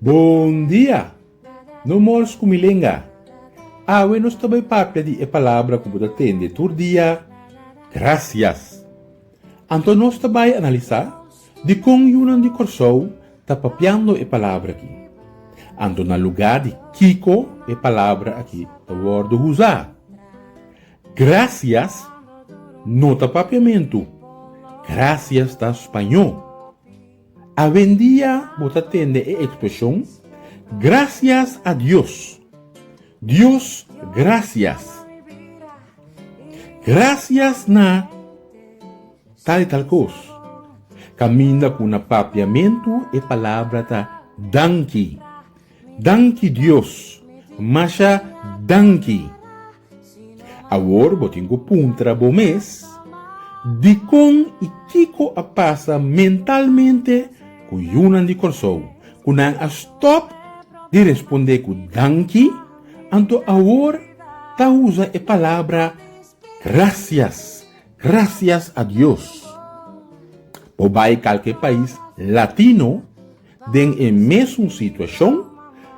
Bon dia! No mors ku mi lenga. Awe nos ta bai papia di e palabra ku bo ta tende tur dia, Grasias. Anto nos ta bai analisá? Dikon yunan di Kòrsou ta papiando e palabra akí? Anto na lugá di kiko e palabra akí ta wòrdu usá? Grasias no ta papiamentu, grasias ta spañó. Awendia bo ta tende e ekspreshon Gracias a Dios, Dios grasias, grasias na. Tal i tal kos. Kaminda ku na papiamentu e palabra ta danki. Danki Dios. Masha danki. Awor bo tin ku puntra bo mes, Dikon i kiko a pasa mentalmente ku yunan di Kòrsou ku nan a stòp di responde ku danki anto awor ta usa e palabra grasias? Gracias a Dios por bay calke pais latino den e mesun situacion,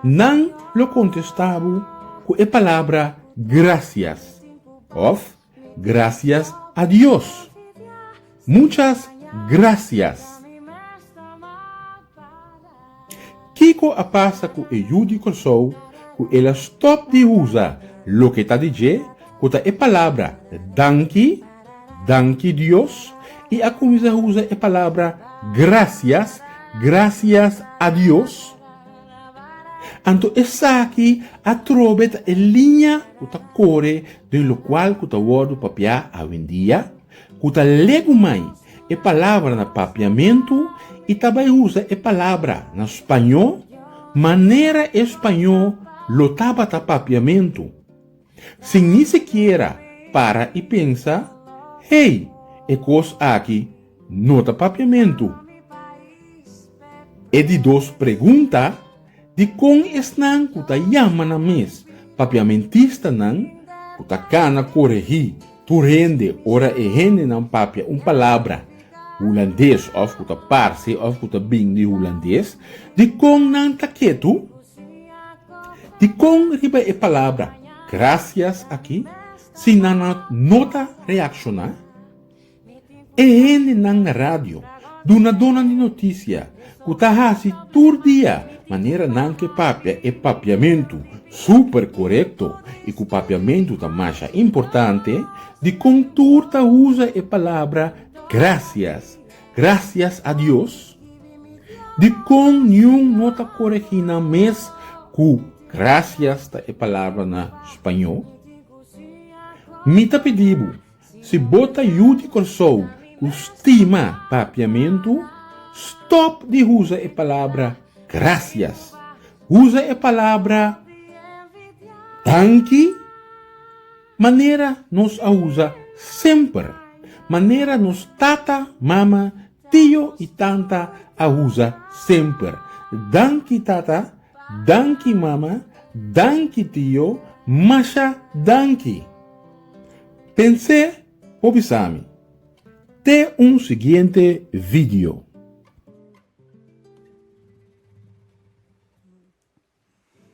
nan lo contesta bo cu e palabra gracias of gracias a Dios. Muchas gracias! Kiko a pasa ku e yu di Kòrsou ku el a stòp di usa loke ta di dje ku ta e palabra danki, danki Dios, i a kuminsá usa e palabra grasias, grasias a Dios? Anto esaki atrobe ta e liña ku ta kore den lokual ku ta wòrdu papiá awendia? Ku ta legu mai e palabra na papiamentu i ta bai usa e palabra na spañó manera e spañó lo tabata papiamentu, sin ni sikiera para i pensa, Hey, e kos aki no ta papiamentu. E di dos pregunta. Dikon esnan ku ta yama nan mes papiamentistanan ku ta kana koregí tur hende ora e hendenan papia un palabra Hulandes òf ku ta parse òf ku ta bin di Hulandes? Dikon nan ta ketu? Dikon riba e palabra grasias akí si nan no ta reakshoná? E hendenan na radio, dunadónan di notisia ku ta hasi tur dia manera nan ke papia e papiamentu súper korekto i ku papiamentu ta masha importante, dikon tur ta usa e palabra grasias, grasias a Dios? Dikon niun no ta koregí nan mes ku grasias ta e palabra na spañó? Mi ta pidi bo. Si bo ta yu di Kòrsou ku stima papiamentu, stòp di usa e palabra grasias. Usa e palabra danki manera nos a usa semper, manera nos tata, mama, tio i tanta a usa semper, Danki tata, danki mama, danki tio, masha danki. Pens'é por bisa mi. Te un siguiente video.